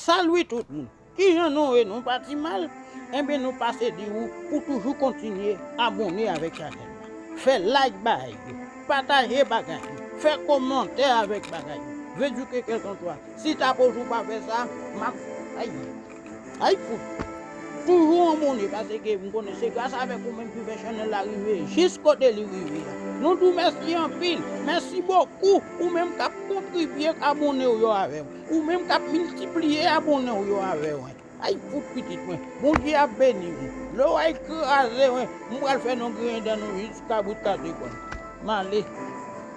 Salut tout moun! Kijan nou ye nou pa ti mal? Enben nou pase di ou pou toujou kontinye abone avèk chanèl la. Fè like bagay yo, pataje bagay yo, fè komantè avèk bagay yo, veduke kèlkanswa. Si takoz ou pa fè sa, map ayy. Ayy fout! Toujou an mounen pase ke m konnen se gras avèk ou menm ki fè channel la rive jis kote li rive a. Nou di w mèsi anpil! Mèsi bokou ou menm k ap kontribye k abone w yo avè mwen. Ou menm k ap miltipliye abone w yo avè mwen. Ayy fout pitit mwen! Bondye ap beni w. Lè w ayy kraze mwen, m pral fè nou griyen dan nou jiska bout kase kò n. M ale.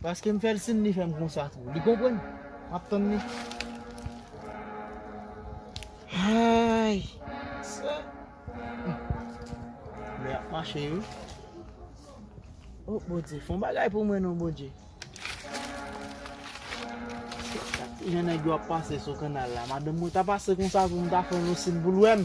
Paske m fè l sin li fè m konsa tou. Li konprann. M ap tann li. Ayy! Sè! Lè ap mache wi. O Bondye, fon bagay pou mwen non Bondye. Chak ti jan nèg yo ap pase sou kannal la. Madanm mwen ta pase konsa tou m ta fè l yon sin pou l wè m.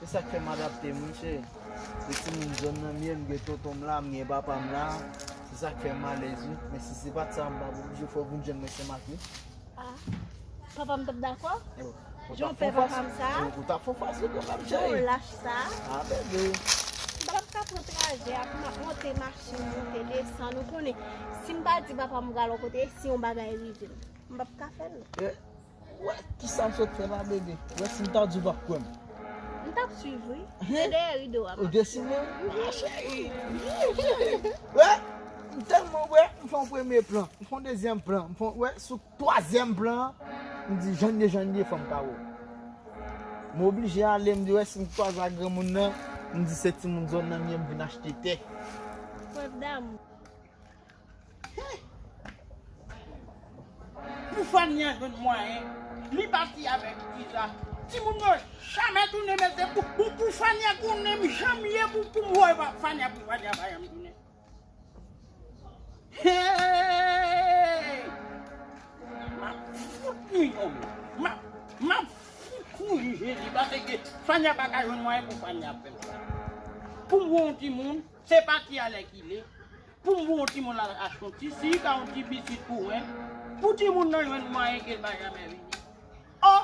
Se sak fè m adapte m wi cheri. Se timoun zòn nan m ye, m gen tonton m la, m gen papa m la. Se sak fè m alèz wi. Men si se pat sa m pap oblije fè w vin jwenn mwen Senmak wi. Ah, papa m t ap dakò? Jan w pè papa m sa? Ou t ap fon fas wi kanmèm cheri. Jan w lach sa? Ah bebe. M pa t ap ka pran trajè a pou m ap monte machin, monte desann. Ou konnen, si m pa di papa m m pral yon kote, si yon bagay rive m, m pap ka fè l. Wè kisa m sot fè la BD. Wè si m ta di w pap kwè m. M tap swiv wi. Se dèyè rido a map swiv. Ou desine m? A cheri! Wi cheri! Wè m tèlman wè m fè yon premye plan, m fè yon dezyèm plan, m fè yon wè sou twazyèm plan an m di jan n ye jan n ye fò m kawè w. M oblije ale m di wè si m kwaze ak granmoun nan m di se timoun zòn nan m ye m vin achte tè. Prèv damou. Pou fanny an jwenn mwayen li pati avèk iza timoun yo jamè tounen men se pou pou fanny an konnen m janm ye pou poum wè fanny an pou fanny an pa janm tounen heeyy map fout nou yon map map fout nou yon jezi paseke fanny an paka jwenn mwayen pou fanny an fèm sa poum wè yon timoun se pati alèkile. Pou m pou yon timoun al achte yon ti sik a yon ti biskit pou mwen, pou timoun nan jwenn mwayen ke l pa jamè vini. O!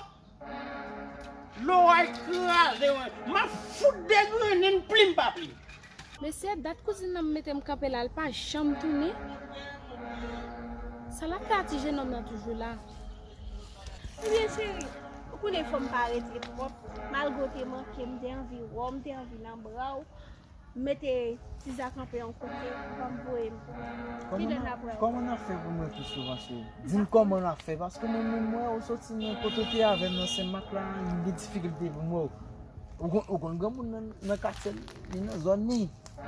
Loray kraze mwen. M ap fout degrennen plim pa plim. Mesye, dat kouzin nan mete m kanpe la, l pa janm tounen. Sa l ap fè a ti jenòm nan toujou la? Ebyen cheri, ou konnen fò m pa rete twòp, malgre w te manke m, m te anvi wè w, m te anvi nan bra w. M mete Tizah kanpe yon kote banm voye m kilè nap wè. Kòman nap fè pou mwen tou souvan cheri. Dim kòman nap fè paske mwen menm m wè ou soti nan kote ou te avèm nan senmak la m gen difikilte pou m wè ou. Ou konn granmoun nan nan katye l li nan zòn li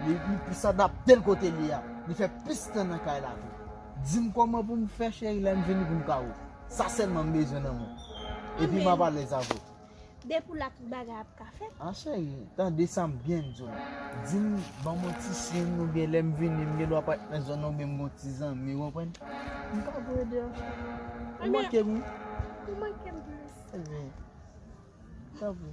li plis adapte l kote li a li fè plis tan nan kay la tou. Dim kòman pou m fè cheri lèm vini pou m ka wè w. Sa sèlman m bezwen nan mwen epi map alèz avèw. Depi w la tout bagay ap ka fèt. A cheri, tande sa m byen di w la. Di m, ban m yon ti siy oubyen lè m vini m gendwa pa t nan zòn nan oubyen m gen yon ti zanmi, ou konprann. M ka voye de an cheri. Ou manke m wi. Ou manke m plis. Ebyen, tanpri.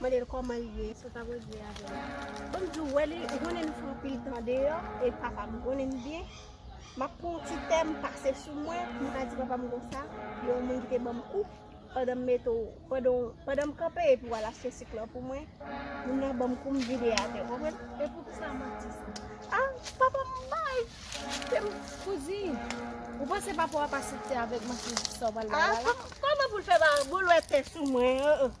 Mandel koman li ye eskew pako jwe avèl. Banm diw wè li ou konnen nou fè anpil tan deyò e papam ou konnen li byen map pran yon ti tè m pase sou mwen pou m ka di papam konsa gen yon moun ki te banm kou pandan m mete w pandan m kanpe epi wal achte sik lan pou mwen moun nan banm kou m vide atè ou konprann e poukisa w manti sa a papam bay te m kouzi ou panse papa w ap asepte avèk manti sa w pral bay la la a koman pou l fè ba boul wè tè sou mwen an an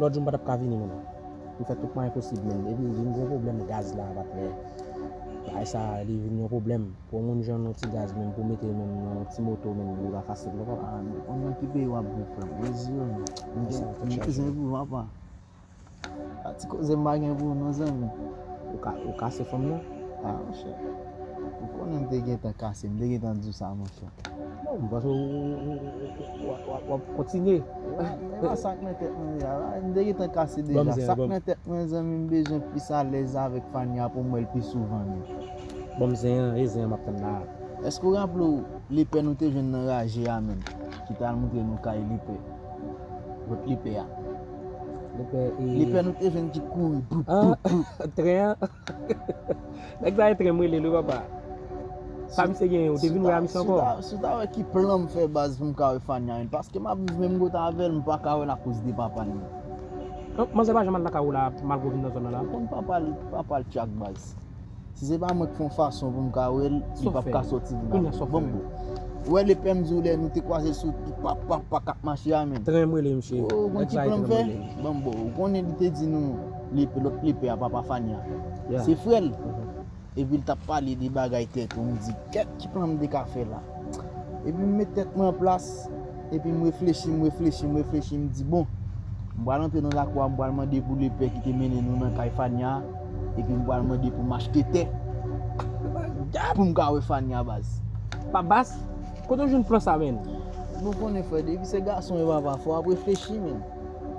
Lòt jou m pa tap ka vini menm. M fè tout mwayen posib menm. Epi vin gwo pwoblèm gaz la pat fè. Bagay sa li vin yon pwoblèm. Pou yon moun jwenn yon ti gaz menm pou mete menm nan yon ti moto menm li pa fasil non papa. Ou nan ki peyi wap viv frèm? Brezil ou nan ki? M gen kouzin epi papa. A ti koze m pa gen pou ou non zanmi. Ou kase fanm nan? A monchè. Ou konnen m te gentan kase, m te gentan di w sa monchè. Non m panse w ap kontinye. Epa sak nan tèt mwen deja la. M te gentan kase deja. Sak nan tèt mwen zanmi m bezwen plis alèz avèk Fania pou m wè l pi souvan men. Banm zen an, e zen an m ap tann la a. Èske w raple w lepè nou te jwenn nan raje a menm? Ki te al montre nou kay lepè. Lòt lepè a. Lepè e. Lepè nou te jwenn ki kouri. Boup boup boup. Tren an. Nèg sa etrèm relel wi papa. Sa misye genyen ou te vin wè a misye ankò. Si w ta wè ki plan m fè baz pou m ka wè Fanyarine. Paske m ap viv menm kote avè l m pa ka wè l akoz de papa l lan. Manzè pa janm al lakay ou la malgre ou vin nan zòn nan la. Ou konn papa l papa l tchak baz. Si se pa mwen k fon fason pou m ka wè l li pap ka sòti vin avè m. Bon Ou wè lepè m di w lè nou te kwaze l sou pap pap pap k ap mache a menm. Trèm relel misye. Ou konn ki plan m fè. Bon Ou konnen li te di nou. Lepe lot lepe a papa fania se frèl epil tap pale de bagay tèt ou mdi kèt ki plan mte ka fè la epim met tèt mwen an plas epim reflechi m reflechi m reflechi m di bon m pral antre nan lakou a m pral mande pou lepè kite mennen nou nan kay fania epi m pral mande poum achte tè poum ka wè fania baz. Pa bas? Kote w jwenn plan sa menn? Bon konnen frè depi se gason e papa fò ap reflechi menn.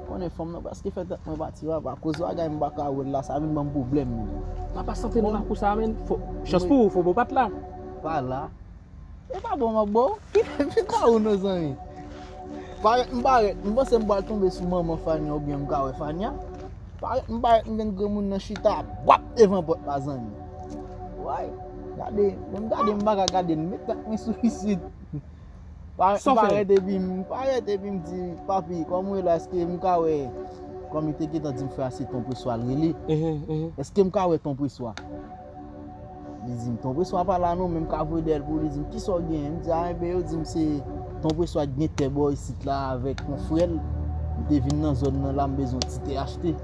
Konnen fanm nan preske fè tèt mwen pati papa akoz bagay m paka wè la sa vin banm pwoblèm ui. Papa santi nou nan kou sa menn. Chans pou ou fobo pat la. Pa la. E pa bon map baw. Kite kawou non zanmi. Parèt m parèt m panse m pral tonbe sou manman Fania oubyen m ka wè Fania. Parèt m parèt m gen granmoun nan chita bwap devan pòt la zanmi. Woy. Gade. Menm gade m paka gade l. M met tèt mwen sou isit. Parèt epi m parèt epi m di papi kòm ou ye la èske m ka wè kòm li te gentan di m frè a se ton preswa l rele èske m ka wè ton preswa li di m ton preswa pa la non men m ka voye dèyè l pou ou li di m kisa w genyen m di a enben yo di m se ton preswa ki gen tè bò isit la avèk yon frè l m te vin nan zòn nan la m bezwen yon ti tè achte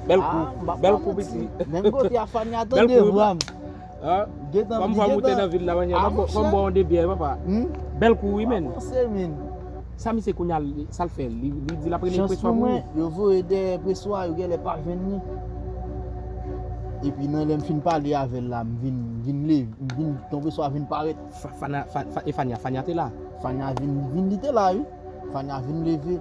a m pa pran manti menm kote a fania tande vwa m. Kom vwa moute nan vil la manje a. Fom bwa yon de byè papa. Bel kou wi menn. Sa misye kounye a sa l fè. Li di l ap rele preswa pou mwen. Chans pou mwen yo voye dèyè preswa yo genlè pa jwenn li. Epi nan lè m fin pale avè l la m vin vin li vin ton preswa vin parèt. Fana e fania fania te la. Fania vin vin li te la wi. Fania vin leve.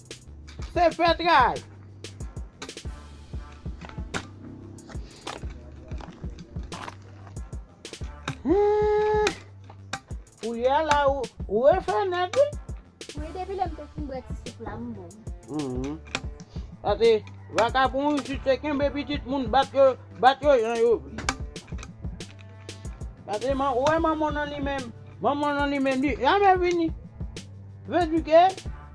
Se fetray! Koulye a la ou refe net wi. Wi depi lem te fin bwe ti soup la m bon. Pase vakabon isit se kenbe pitit moun bat yo jan yo vle. Gade man ou wè manman w nan li menm. Manman w nan li menm li jamè vini. Vle di ke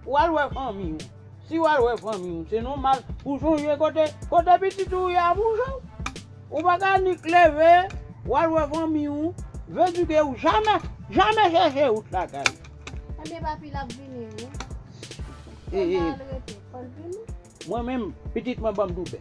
ou al wè fanmi w. Si w al wè fanmi w se nòmal pou w sonje kote kote pitit ou ye a pou w jwenn. Ou pa ka nik leve w al wè fanmi w vle di ke ou jamè jamè chèche wout lakay ou. Ebyen papi l ap vini wi. Solda al rete. Fò l vini. Mwen menm pitit mwen ban m doulè.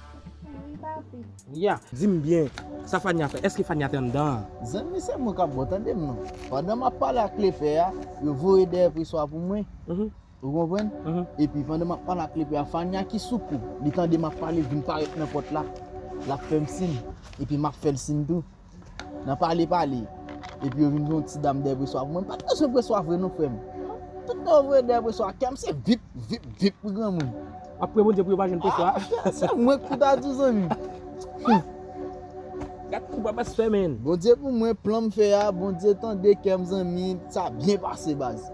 Nya, dim byen, sa Fania fè? Eske Fania te anndan an? Zanmi se mwen kap bo tande m non. Pandan map pale ak lepè a, yo voye dèyè preswa pou mwen. Ou konprann? Epi pandan map pale ak lepè a, Fania ki sou kou, li tande map pale vin parèt nan pòt la. Lap fè m sin, epi map fè l sin tou. Nan pale pale Epi yo vin yon ti dam dè preswa pou mwen Mpat bezwen preswa vre non frèm Tout mwen voye dè preswa Kèm se vip vip vip pou granmoun Aprè Bondye pou yo pa jwenn preswa Se mwen k pou ta di zanmi Humm Gad kou babas fè menn Bondye pou mwen planm fè a Bondye tande kèm zanmi Sa byen pase baz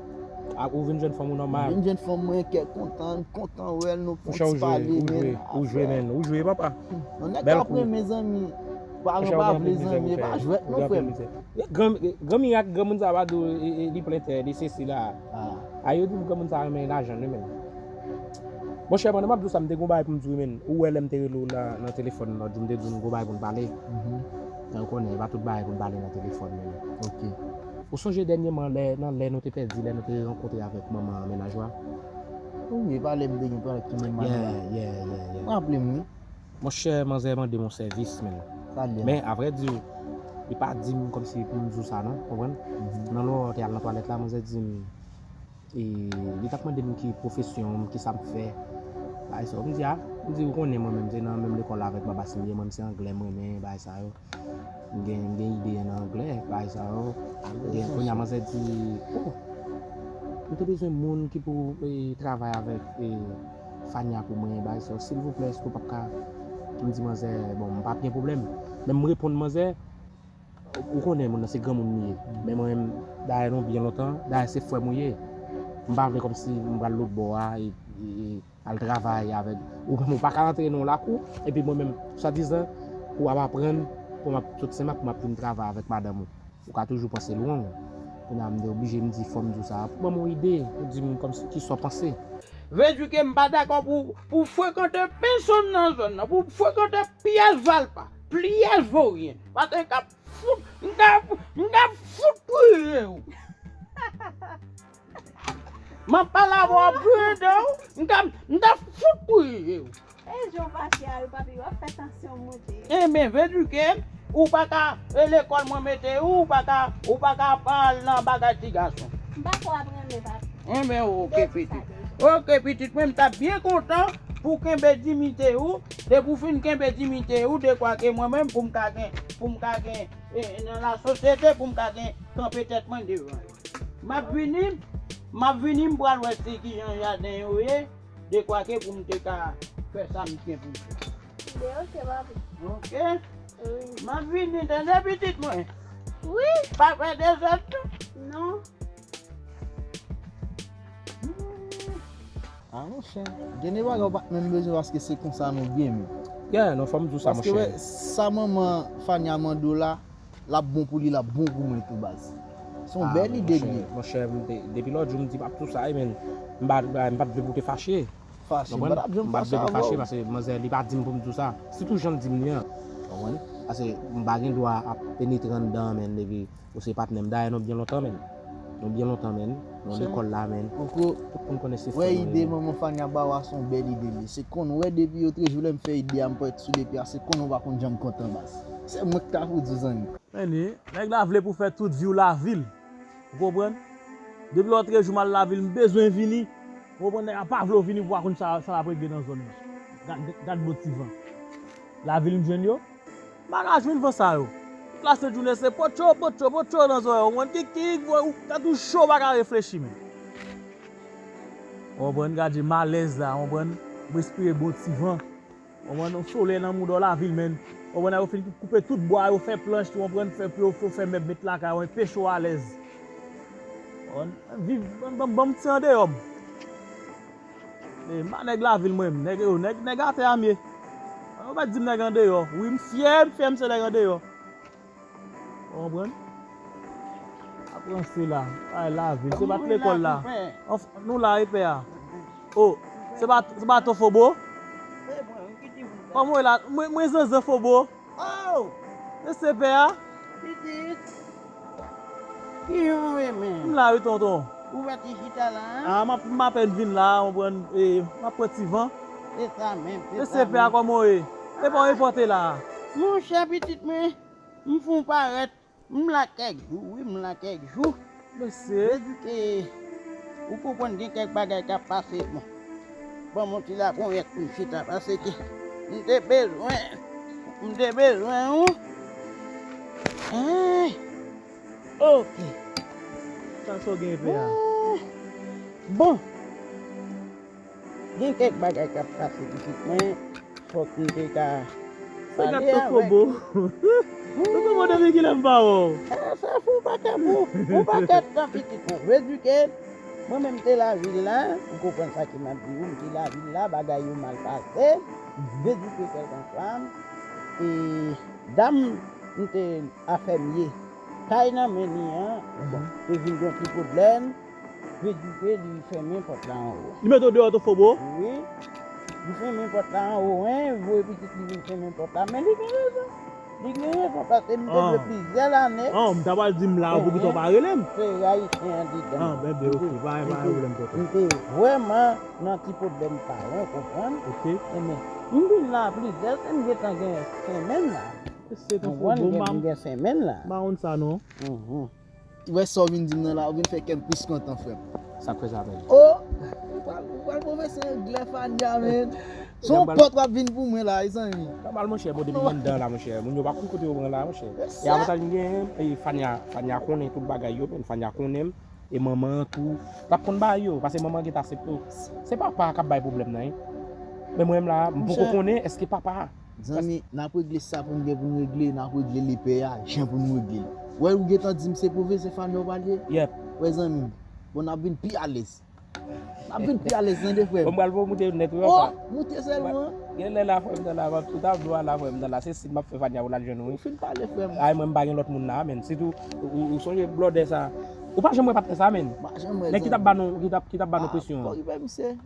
Ak ou vin jwenn fanm ou nòmal Mvin jwenn fanm mwen kè kontan M kontan wèl nou fon ti pale menn Ou jwe ou jwe menn Ou jwe papa Humm Yon nèg kap renmen zanmi. Paran pa vle zanmi e pa jwèt non frèm. Gran mirak granmoun sa pa di w li plen tè li sesi la a yo di m granmoun sa renmen lajan li menm monchè pandan m ap di w sa m te gen yon bagay pou m di w menn ou wè lè m te rele w nan telefòn lòt jou m te di w m gen yon bagay pou n pale men ou konnen e pa tout bagay pou n pale nan telefòn ou sonje dènyeman lè nan lè nou te pèdi lè nou te rankontre avèk manman mennaj w a ou e pa lè m te gen pral tounen m ale la m raple m wi. Monchè manzè mandem yon sèvis menn. Sa byen. Men a vrè di, li pa di m kòm si pou m di w sa non, ou konprann? Nan lò te al nan twalèt la, manzè di m, e li t ap mande m ki pwofesyon m, ki sa m fè. Bagay sa yo. M di a, m di ou konnen mwen menm se nan menm lekòl avèk Babas m ye, mwen menm se anglè m renmen, bagay sa yo. Gen ide an anglè bay sa yo. Gen kounye a manzè di oh m te bezwen moun ki pou travay avèk Fania pou mwen bay sa yo silvouplè èske ou pap ka m di manzè bon m pap gen pwoblèm men m reponn manzè ou konnen moun nan se granmoun li ye men mwen menm dayè nou byen lontan dayè se frè m ou ye m pa vle kòmsi m pral lotbò a e Al travay avèk. Ou menm ou pa ka antre nan yon lakou, epi mwen menm, swadizan, pou ap aprann, pou m ap sot Senmak pou m ap vin travay avèk madanm ou. Ou ka toujou panse lwen. Kounye a m te oblije m di fò m di w sa a. Ban m yon ide, ou di m kòmsi ki sa w panse. Vèdju ke m pa dakò pou ou frekante pesonn nan zòn nan, pou ou frekante pyès valpa, pyès voryen. Paske m ka fout, m ka, m ka fout touye ou. Map pale avè w pou ede w. M ta fout touye w. E jan w fache a yo papi wap fè tansyon w monte. Enben vedrike ou paka e lekòl mwen mete ou ou paka pa al nan bagay ti gason. M pako ap renmen papi. Enben ok pitit. Ok pitit mwen m tap byen kontan pou w kenbe dimite ou depi w fin kenbe dimite ou dekwa ke mwen menm pou m ka gen pou m ka gen nan lasosyete pou m ka gen kanpe tèt mwen devan yo. Map vini Map vini m pral wè si kijan jaden yo ye dekwake pou m te ka fè sa m gen pou m fè. Tande ok papi. Ok. Wi. Map vini tande pitit mwen. Wi. Pa fè dezòd tou. Non. A monchè, gen de bagay ou pat menm bezwen paske se konsa nou ye menm. Yeah, non fòm diw sa monchè. Paske wè sa manman Fania mande w la, Lap bon pou li lap bon pou mwen tou baz. Se yon bèl ide gnlye. Monchè depi lòt jou m di map tou sa men m pat vle pou te fache. Fache m patap janm fache avèw. M pat vle pou fache pase manzè li pa dim pou m tou sa. Se tou janl dim li an. Konprann? Pase m pa gen dwa ap penetre anndan menn epi ou se patnèm dayè nou byen lontan menn. Nou byen lontan menn, nou an lekòl la menn, tout moun konnen se frè nou ye menn. Wè ide manman Fania ba ou a se yon bèl ide li ye, se konn wè depi yo trejou lè m fè ide a m pran sou lepi a se konn ou pa konn janm kontan baz. Se mwen ki ta pou di zanmi. Anyway, nèg la vle pou fè tout viw lavil, ou konprann? Depi lò trejou m al lavil m bezwen vini, ou konprann nèg la pa vle w vini pou pa konn sa lap regle nan zòn nan. Gad bon ti van. Lavil m jwenn yo. M pa ka jwenn van sa yo. Tout la sent jounen se potcho, potcho, potcho nan zorèy ou konprann. Kikik voy ou tèt ou cho ou pa ka reflechi menm. Ou konprann gad je malèz la ou konprann. M respire bon ti van. Ou konprann yon solèy nan mouda w lavil menn. Ou konprann a yo fin koupe tout bwa yo fè planch ou konprann fè pou yo fè mèb met lakay ou enpe cho alèz. Ou konprann viv banm banm ti andeyò m. E ma nèg lavil mwen menm nèg yo nèg atè a mye ou mèt dim nèg andeyò wi m fyè m fyè m se nèg andeyò ou konprann ap ranse la ay lavil se pat lekòl la nou la epè a o se pa se pa to fobo kòm ou ye la mwen zanzan fobo. Ooh! E se pè a? Pitit! Ki jan w ye menm? M la wi tonton. Ou wè ti chita la a? A, m apèn vin la a, konprann, e m ap pran ti van. Se sa menm, se sa menm. E se pè a kòman w ye? Epa w enpòte la a? Monchè pitit mwen, m fon parèt. M la kèk jou wi m la kèk jou. Mesi. Deske ou konprann gen kèk bagay kap pase bon. Banm yon ti laponyèt poum chita paseke m te bezwen m te bezwen ou eehh ok. Sa sa w gen epè a? Bon. Gen kèk bagay kap pase pitit mwen fòk m te ka pale avèk ou humm Kokobo depi kilè m pa wè w. Eeh Safou ou pa ka pou ou pa ka tan pitit mwen vle di ke mwen menm m te lavil la ou konprann sa ke map di ou m te lavil la bagay yo mal pase vle di ke kèlkanswa e dam m te afèm ye kay nan men li an bon te vin gon ti pwoblèm. Vle di ke li fèmen pòt la anwo. Li mete w deyò tou fobo? Wi. Li fèmen pòt la anwo. Hein, li voye pitit li vin fèmen pòt la. Men li gen rezon. Li gen rezon paske m te vle plizyè lane. An, ou ta pral di m la poukisa ou pa rele m? Fèy ayisyen an dedan. An, ben byen ok. Pa gen pwoblèm tonton. M te vrèman nan ti pwoblèm sa yo, ou konprann? Ok. E men, m vin la plizyè se m gentan gen senmenn la. Ou konprann? M gen senmenn la. M pa konn sa non. Wè sa w vin di m nan la, ou vin fè kè m plis kontan frè m. Sa k fè sa menm? O! Ou pral pwofese anglè Fania menn. Se yon pòt w ap vin pou mwen la mezanmi. Sa mal monchè, bon depi m anndan an la monchè, moun yo pa konn kote yo pran la monchè. E avantaj m genyen, e Fania, Fania konnen tout bagay yo menn, Fania konnen m, e manman an tou, l ap konn bay yo, pase manman an gentan asepte w. Se papa a k ap bay pwoblèm nan. Men mwen m la, m poko konnen èske papa a. Zanmi nap regle sa poun gen poun regle nap regle lepè a jan poun regle l wè ou gentan dim se pou veze fanmi ou pral ye yep wè zanmi m bon nap vin pi alèz nap vin pi alèz tande frè m bon pral fè w moute yon nèt wi apa oh moute sèlman genlè la frè m nan la map tout ap jwa la frè m nan la se sim map fè fania ou lal jwenn ou wi ou fin pale frè m ay mwen m pa gen lòt moun la menn sitou ou sonje blòdè sa ou pa janm wè patnè sa menn nèg ki tap ba nou ki tap ba nou presyon an.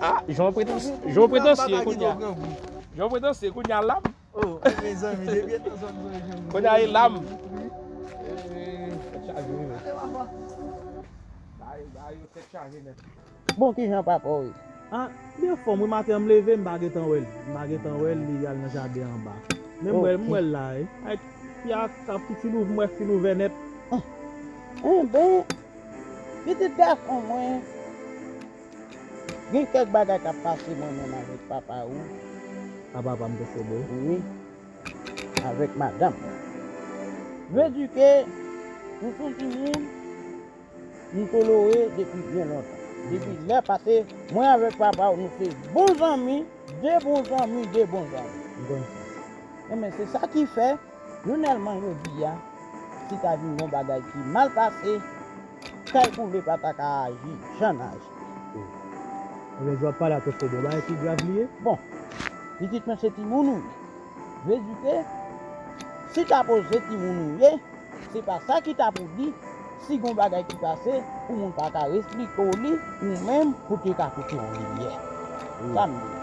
Ah jan w pretansye jan w pretansye kounya jan w pretansye kounya lam oh mezanmi depi etan sa m sonje m kounya e lam tèt chaje wi men bagay yo tèt chaje nèt bon kijan papa w ye ah li an fòm wi maten an m leve m pa gentan wè l m pa gentan wè l li al nan jaden anba men m wè l m wè l la wi ak fi a ap sou ti louvè m wè fi louvè nèt enben pitit gason mwen. Gen kèk bagay kap pase mwen menm avèk papa ou. A papa m te sede. Wi. Avèk madanm mwen. Vle di ke nou son ti moun m tolore depi byen lontan. Depi lè pase mwen avèk papa ou nou se bon zanmi, de bon zanmi, de bon zanmi. M konn sa. Enben se sa ki fè, jounèlman jodi a, si ta vin gen yon bagay ki mal pase. Kay pou vle pata ka aji jan n aji. Ebyen dwa pale ak yo se bon bagay ki grav li ye. Bon pitit mwen se timoun ou ye. Vle di ke si ta poze timoun ou ye, se pa sa ki ta pou di si gon bagay ki pase pou moun pa ka resplike w li ou menm pou te ka pote w limyè. Sa m di.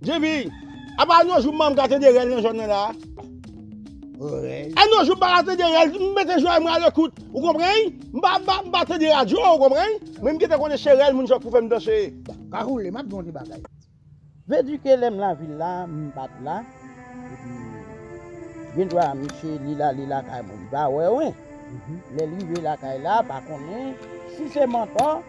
JB, Apa an yon jou mman ka tande rèl nan zòn nan la a? Rèl? An yon jou m pa ka tande rèl, m mete zòrèy mwen alekout, ou konprann? M pa m pa tande radyo, ou konprann? Men m gentan konnen se rèl moun sa k pou fè m danse. Ka woule, m ap di w yon ti bagay. Vedrike lè m lavil la, m pa t la, epi gendwa misye li la li lakay mwen, li pa wè wen. Lè l rive lakay la, pa konnen si se mantò.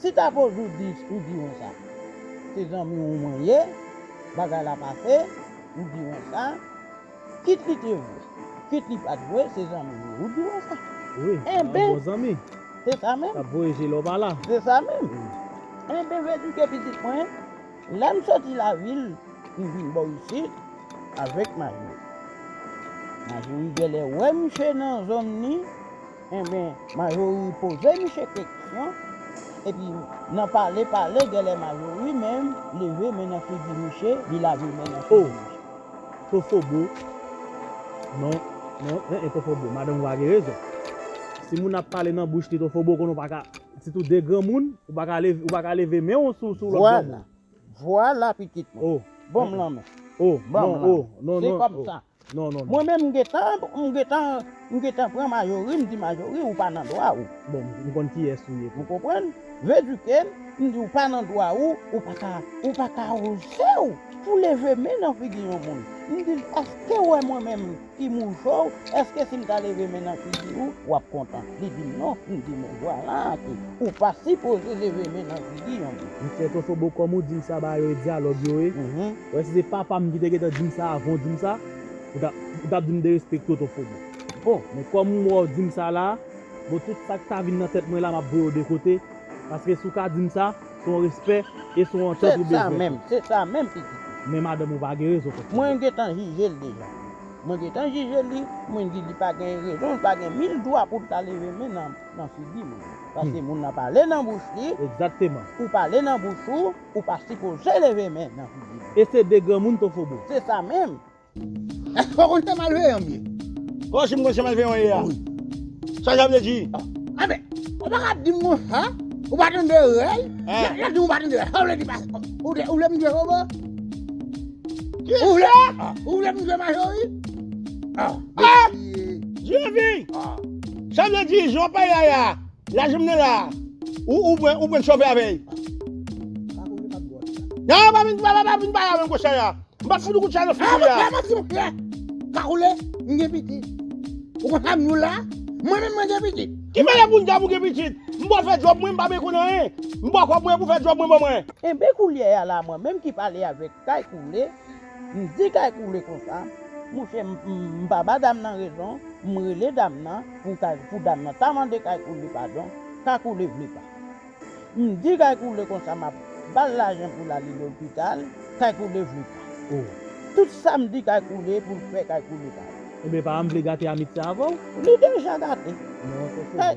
Si ta koz ou di ou di wen sa se zanmi ou mwen ye bagay la pase ou di wen sa kit li te vwe kit li pat vwe se zanmi ou ye ou di wen sa enben se sa menm se sa menm enben m edike pitit mwen lèm soti lavil m vin bò isit avèk Majorie Majorie gèlè wè misye nan zòn li Enben Marjorie poze misye keksyon epi nan pale pale gèlè Marjorie menm leve men nan figi misye li lave men nan figi misye. Oh to fobo non non eh eh to fobo madanm ou pa gen rezon si moun ap pale nan bouch li to fobo konnen ou pa ka sitou de granmoun ou pa ka leve ou pa ka leve men ou sou sou lòt granmoun. Vwala vwala pitit mwen oh banm lanmen oh non oh non non oh. non non. Mwen menm m gentan m gentan m gentan pran majori m di majori ou pa nan dwa ou. Bon m konn kiyès ou ye tou. Ou konprann? Vedrike m m di ou pa nan dwa ou ou pa ka ou pa ka oze w pou leve men nan figi yon moun m di l èske w wè mwen menm ki mouche w èske si m ta leve men nan figi ou w ap kontan li di m non m di men vwala ke ou pa sipoze leve men nan figi yon moun. Misye tofobo kòm ou di m sa ba yo e dyalòg yo ye. Wè si se papam ki te gentan dim sa avan w dim sa ou ta ou tap dim derespekte w ton fobo bon men kòm m wè w dim sa la bon tout sak ta vin nan tèt mwen la map voye w de kote paske si w ka dim sa se yon respè e se yon antant ou bezwen tou. Se sa menm, se sa menm pitit. Men madanm ou pa gen rezon ton fobo. Mwen gentan jije l deja. Mwen gentan jije li, mwen di li pa gen rezon, li pa gen mil dwa pou l ta leve men nan figi m. Paske moun nan pale nan bouch li. Egzakteman. Ou pale nan bouch ou. Ou pa sipoze leve men nan figi moun. E se de granmoun to fobo. Se sa menm. Èske ou konn se malveyan m ye? Bon, si m konn se malveyan w ye a. Wi. Sa sa vle di? Anben, ou pa ka ap di m konsa. Ou pa tande rèl. Lè w di m ou pa tande rèl, sa w vle di pase. Ou vle m jwe fobo? Ki sa? Ou vle m jwe majori? A! Dye vin! Sa vle di, jan w pale la a. Lajan m nan la a. Ou pran ou pran chofè avè l. Nan pa vin pa pa vin pale avè m kou chay la. M pap fout ou kout chay nan figi w la. Kagoule m gen pitit. Ou konn sa m ye w la? Mwen menm mwen gen pitit. Ki mède pou n ta pou gen pitit? M bò fè djòb mwen m pa bezwen konn anyen. M bò kòb mwen pou fè djòb mwen ban mwen. Kenbe koulyè a la mwen menm ki pale avèk Kay koule, m di kay koule konsa, mouche m pa ba dam nan rezon, m rele dam nan pou kay pou dam nan ta mande kay koule padon, ka koule vle pa. M di kay koule konsa map bal lajan pou lale lopital, kay koule vle pa. Oh. Tout sa m di kay koule pou l fè kay koule pa. Ebyen epa m vle gate amitié avèw. Li deja gate. Kay.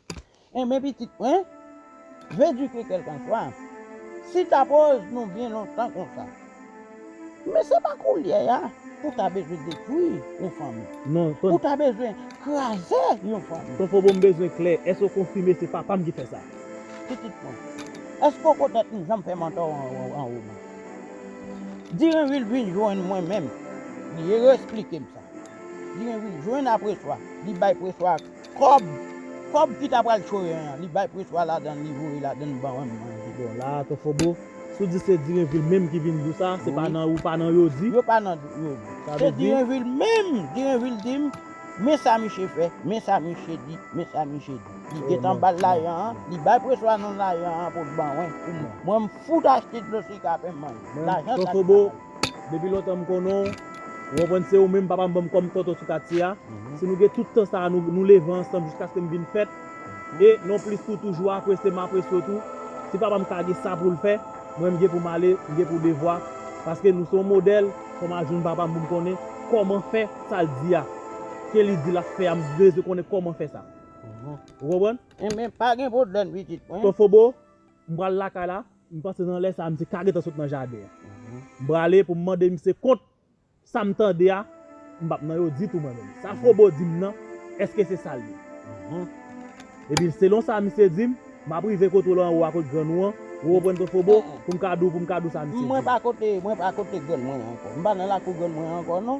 Enben pitit mwen, vedike kèlkanswa si ta koz nou byen lontan konsa. Men se pa koulye a pou ta bezwen detwi yon fanmi. Non, ton. Pou ta bezwen kraze yon fanmi. Ton Fobo m bezwen klè, èske ou konfime se papa m ki fè sa? Pitit mwen, èske ou ko tèt m jan m fè mantò an ou menm? Direnvil vin jwenn mwen menm, li resplike m sa. Direnvil jwenn apreswa, li bay preswa ak. Kòb! Kòb ki ta pral chore an, li bay preswa ladan l, li voye ladan l ban m manje. Bon la a ton fobo, si w di se Direnvil menm ki vin di w sa, se pa nan ou pa nan yo di? Yo pa nan yo di. Se Direnvil menm! Direnvil di m, men sa miche fè, men sa miche di, men sa miche di. Li gen tan ba l lajan an, li bay preswa non lajan an pou l ban wen pou mwen. Mwen m fout achte dlo sika fè m manje. Lajan sa li pa bay. Depi lontan m konnen w, ou konprann se ou menm papa m ban m kòm tonton sou katye a. Si nou gen tout tan sa a nou leve ansanm jiskaske m vin fèt, e, nonplis tou, toujou apresye m apresye w tou, si papa m ka gen sa pou l fè, mwen m gen pou m ale, m gen pou devwa, paske nou se yon modèl, fò m al jwenn papa m pou m konnen kòman fè sa l di a, ke li di l ap fè a, m bezwen konnen kòman fè sa. Ou konprann? Enben, pa gen pwoblèm pitit mwen. Ton Fobo, m pral lakay la. M panse nan lè sa a misye ka gentan sot nan jaden an. M prale pou m mande misye kont sa m tande a, m pa p nan yo ditou mwen menm. Sa Frobo di m nan, èske se sa l ye? Epi selon sa misye di m, m ap rive kote w lan anwo a kot grann ou an, ou konprann tou Frobo, pou m ka di w pou m ka di w sa misye di a. Mwen pa kote grann mwen an ankò. M pa nan lakou grann mwen an ankò non.